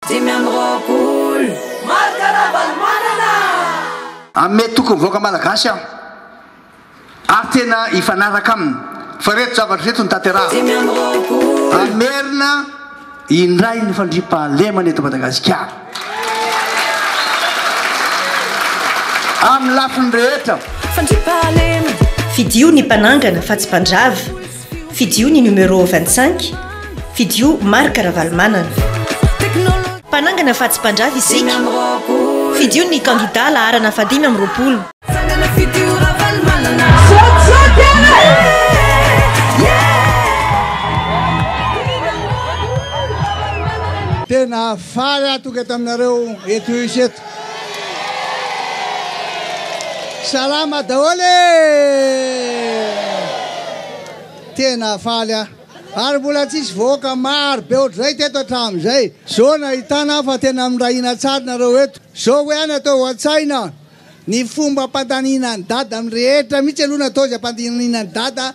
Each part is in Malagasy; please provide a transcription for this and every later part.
Dimy amby roapolo. Marc Ravalomanana! Ame tokony vahoaka malagasy aho ary tena hifanaraka aminy fa reto zavatra reto no tanterahako. Hamerina indray ny fandriampahalemana eto Madagasikara amin'ny lafiny rehetra. Fandriampahalemana. Fidio ny mpanangana fa tsy mpandrava. Fidio ny numéro vingt cinq, fidio Marc Ravalomanana. Mpanangana fa tsy mpandrava isika. Fidio ny kandida laharana fahadimy amby roapolo. Salama daholo e! Tena faly aho. Ary mbola tsisy vahoaka maro be ohatr'izay teto hatramin'izay. Zao nahitana aho fa tena mirahina tsara nareo eto. Zao hoe any atao an-tsaina, ny fomba ampandaniana an'i Dada amin'ny rehetra mihitsy aloha no atao izay ampandaniana an'i Dada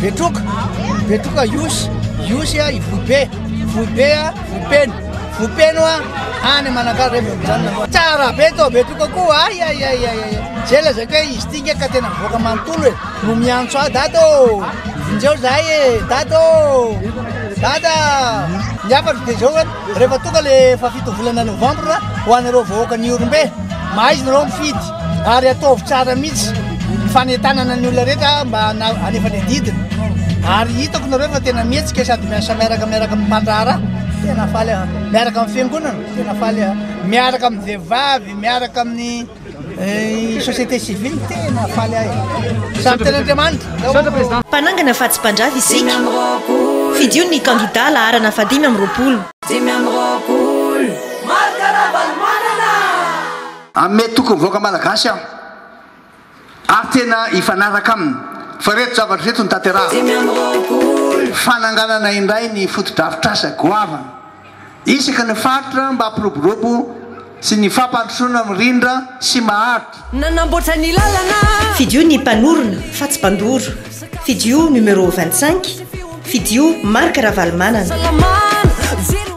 Betroka, betroka yosy, yosy a i vohibe, vohibe a vohipeno, vohipeno a any manakalo re mijanona. Tsara be to betroka koa ay ay ay ay. Zay lazaiko hoe izy tinga ka tena mivoaka manontolo e. No miantso ahy dada ô. Injao zahay e dada ô. Dada. Ny hafatra dia zao rehefa tonga le fahafito volana novambra ho anareo vahoaka ny Ihorombe, mahaiza nareo mifidy. Ary ataovy tsara mihitsy ny fanentanana ny olona rehetra mba hanefa ny adidiny. Ary hitako nareo fa tena mihetsika sady miasa miaraka miaraka amin'ny mpandraharaha. Tena faly aho. Miaraka amin'ny fiangonana, tena faly aho. Miaraka amin'ny vehivavy, miaraka amin'ny eh, société civile, tena faly ahy. Samy tena Andriamanitra. Mpanangana fa tsy mpandrava isika. Fidio ny kandidà laharana fahadimy amby roapolo. Dimy amby roapolo. Marc Ravalomanana! Ame tokony vahoaka malagasy aho ary tena hifanaraka aminy fa ireto zavatra ireto no tanterahako, fananganana indray ny fotodrafitrasa goavana isaky ny faritra mba hampiroborobo sy ny fampandrosoana mirindra sy maharitra. Nanamboatra ny lalana. Fidio ny mpanorona fa tsy mpandoro, fidio numéro vingt cinq, fidio Marc Ravalomanana.